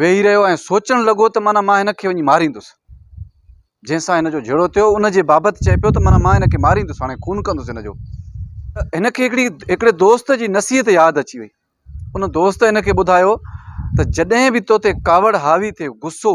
ويهي رهيو ۽ سوچڻ لڳو ته معنيٰ مان هن کي وڃي ماريندس جنهن سان هن جو جهيڙو ٿيو ان جي بابت چئي پيو ته معنيٰ مان هن کي ماريندس هاڻي خون ڪندس هن جو هن کي هڪڙي هڪڙي دوست جي نصيحت ياد اچي وئي ان دوست هن کي ٻڌايو ته جڏهن به تو تي ڪاوڙ حاوي ٿئي غصو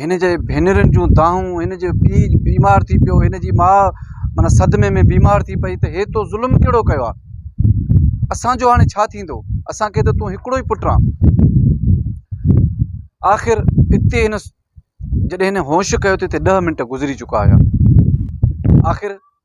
هن جي ڀينرن جون دانهون، هن جو پيء بيمار ٿي پيو، هن جي ماء معنيٰ صدمي ۾ بيمار ٿي پئي ته هي تو ظلم ڪهڙو ڪيو آهي؟ اسان جو هاڻي ڇا ٿيندو؟ اسان کي ته تون هڪڙو ئي پٽ آن. آخر اتي هن جڏهن هن هوش ڪيو ته هتي ڏهه منٽ گذري چڪا هيا. آخر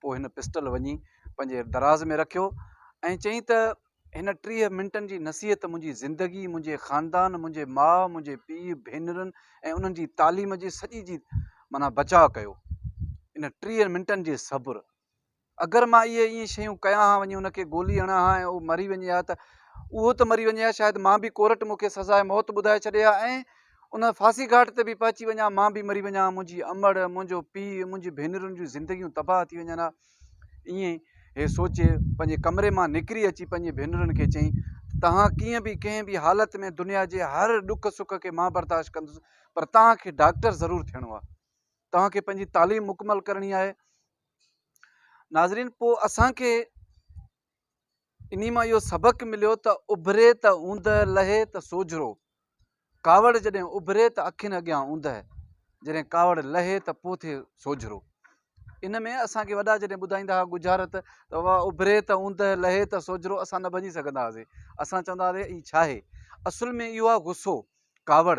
پوء هن پسٽل وڃي پنهنجي دراز ۾ رکيو ۽ چيائين ته هن ٽيهه منٽن جي نصيحت منهنجي زندگي منهنجي خاندان منهنجي ماء منهنجي پيء ڀينرن ۽ انهن جي تعليم جي سڄي جي مانا بچاء ڪيو ان ٽيهه منٽن جي صبر اگر مان اهي ائين شيون ڪيان ها وڃي ان کي گولي هڻان ها ۽ اهو مري وڃي ها ته اهو ته مري وڃي ها شايد مان به ڪورٽ مون کي سزا موت ٻڌائي ڇڏي ها ۽ ان ڦاسي گهاٽ تي به پهچي وڃان، مان به مري وڃان، منهنجي امڙ، منهنجو پيء، منهنجي ڀينرن جون زندگيون تباهه ٿي وڃن ها. ائين هي سوچي پنهنجي ڪمري مان نڪري اچي پنهنجي ڀينرن کي چيائين ته توهان ڪيئن به ڪنهن به حالت ۾ دنيا جي هر ڏک سک کي مان برداشت ڪندس پر توهان کي ڊاڪٽر ضرور ٿيڻو آهي. توهان کي پنهنجي تعليم مڪمل ڪرڻي آهي. ناظرين پوء اسان کي انهي مان اهو سبق مليو ته اڀري ته اوندهه لهي ته سوجهرو، ڪاوڙ جڏهن اڀري ته اکين اڳيان اوندهه، جڏهن ڪاوڙ لهي ته پوء ٿئي سوجهرو. ان ۾ اسان کي وڏا جڏهن ٻڌائيندا هئا ڳجهارت ته واء اڀري ته اوندهه لهي ته سوجهرو اسان نه ڀڃي سگهندا هئاسين. اسان چوندا هئاسين هي ڇا آهي؟ اصل ۾ اهو آهي غصو، ڪاوڙ،